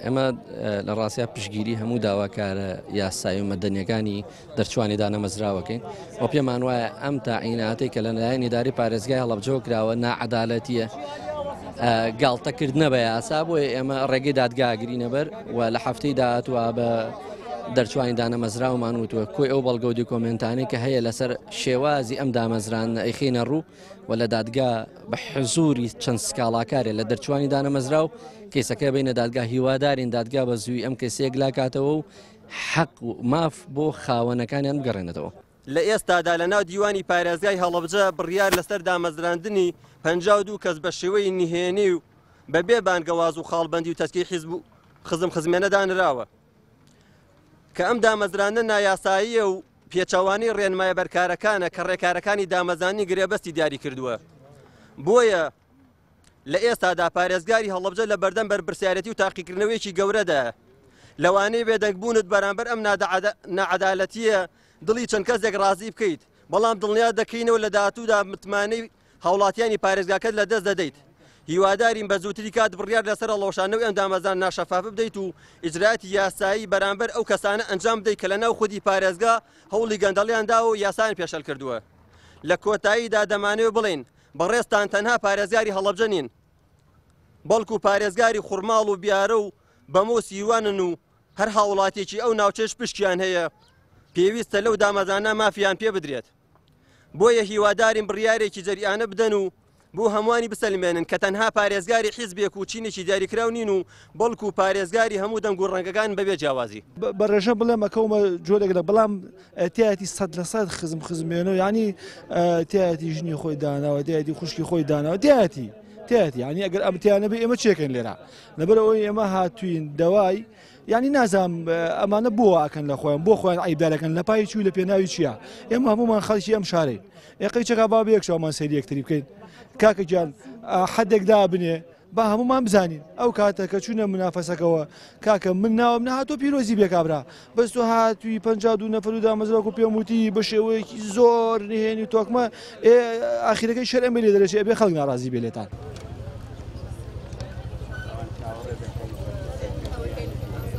ئێمە لە ڕاستیا پشگیری هەموو داواکارە یاسایی و مەدەنیەکانی دەرچوانی دانەمەزراوەکەین و پێمان وایە ئەم تاعیناتی کە لە لایەن اداری پارێزگای هەڵبجەوە کراوە ناعادالەتیە گاڵتەکردنە بە یاسا بۆیە ئێمە ڕێگەی دادگاگرینەبەر و لە هەفتەی داهاتوە بە دەرچوانی دانەمەزراومان وتووە کۆی ئەو بەڵگەودی کۆمنتانی کە هەیە لەسەر شێوازی ئەم دامەزران ئەیخینە ڕوو و لە دادگا بە حزوری چەند سکاڵاکارێ لە دەرچوانی دانەمەزرا و کەیسەکە بینە دادگا هیوادارین دادگا بە زووی ئەم کەسێک لاکاتەوە و حەق و ماف بۆ خاوەنەکانیان بگەڕێنێتەوە. لە ئێستادا لە ناو دیوانی پارێزگای هەڵەبجە بڕیار لەسەر دامەزراندنی پەنجا و دوو کەس بە شێوەی نهێنی و بەبێ بانگەواز و خاڵبەندی و تەسکی حیزب و خزمخزمێنە دانراوە. کە ئەم دامەزرانە نایاساییە و پێچەوانەی ڕێنمایە بەرکارەکانە کە ڕێکارەکانی دامەزانی گرێبەستی دیاری کردووە بۆیە لە ئێستادا پارێزگاری هەڵبجە لە بەردەم بەرپرسیارەتی و تاقیکردنەوەیەکی گەورەدا لەوانەیە بێدەنگبوونت بەرامبەر ئەم نەعادالەتیە دڵی چەند کەسێک ڕازی بکەیت بەڵام دڵنیا دەکەینەوە لە داهاتوودا متمانەی هاوڵاتیانی پارێزگاکەت لە دەست دەدەیت. هیوادارین بە زووتری کات بڕیار لەسەر هەڵوەشاندنەوەی ئەم دامەزراندنە ناشەفافە بدەیت و ئیجرایاتی یاسایی بەرامبەر ئەو کەسانە ئەنجام بدەیت کە لەناو خودی پارێزگا هەوڵی گەندەڵیان داوە و یاسایان پێشێل کردووە. لە کۆتاییدا دەمانەوێت بڵێین، بەڕێزتان تەنها پارێزگاری هەڵەبجە نین، بەڵکو پارێزگاری خورماڵ و بیارە و بەمە و سیروانن و هەر هاوڵاتییەکی ئەو ناوچەیەش پشکیان هەیە، پێویستە لەو دامەزراندنە مافیان پێ بدرێت. بۆیە هیوادارین بڕیارێکی جەریانە بدەن و بۆ هەمووانی بسەلمێنن کە تەنها پارێزگاری حیزبێک و چینێکی دیاریکراو نین و بەڵکو پارێزگاری هەموو دەنگ و ڕەنگەکان بەبێ جیاوازی. بە ڕێژە بڵێم ئەکەومە جۆرێک لە بەڵام تایەتی سەد لە سەد خزم خزمێنەوە یعنی تایەتی ژنی خۆی داناوە تایەتی خوشکی خۆی داناوە تایەتی تایەتی ینی ئەگەر ئەمتیانە بێ ئێمە چێکەن لێرە لەبەر ئەوەی ئێمە هاتوین دەوای یانی نازام ئەمانە بۆ ئاکەن لە خۆیان بۆ خۆیان ئایدارەکەن لە پای چوو لە پێناوی چییە ئێمە هەمومان خەڵکی ئەم شارەی ئێقی چەکا با بەیەکشامان سەری یەکتری بکەین کاکەگیان حدێک دابنێ با هەمومان بزانین ئەو کاتە کە چوونە منافەسەکەەوە کاکە من ناوم نهاتۆ پیرۆزی بێکابرا بەس تۆ هاتووی پ دو نەفر و دامەزراکو پێموتی بە شێوەیەکی زۆر نهێنی تۆکمە ئێ ئاخیرەکەی شەر ئەمەی لێ دەرەچێ ئەبێ خەڵک ناڕازی بێ لێتان.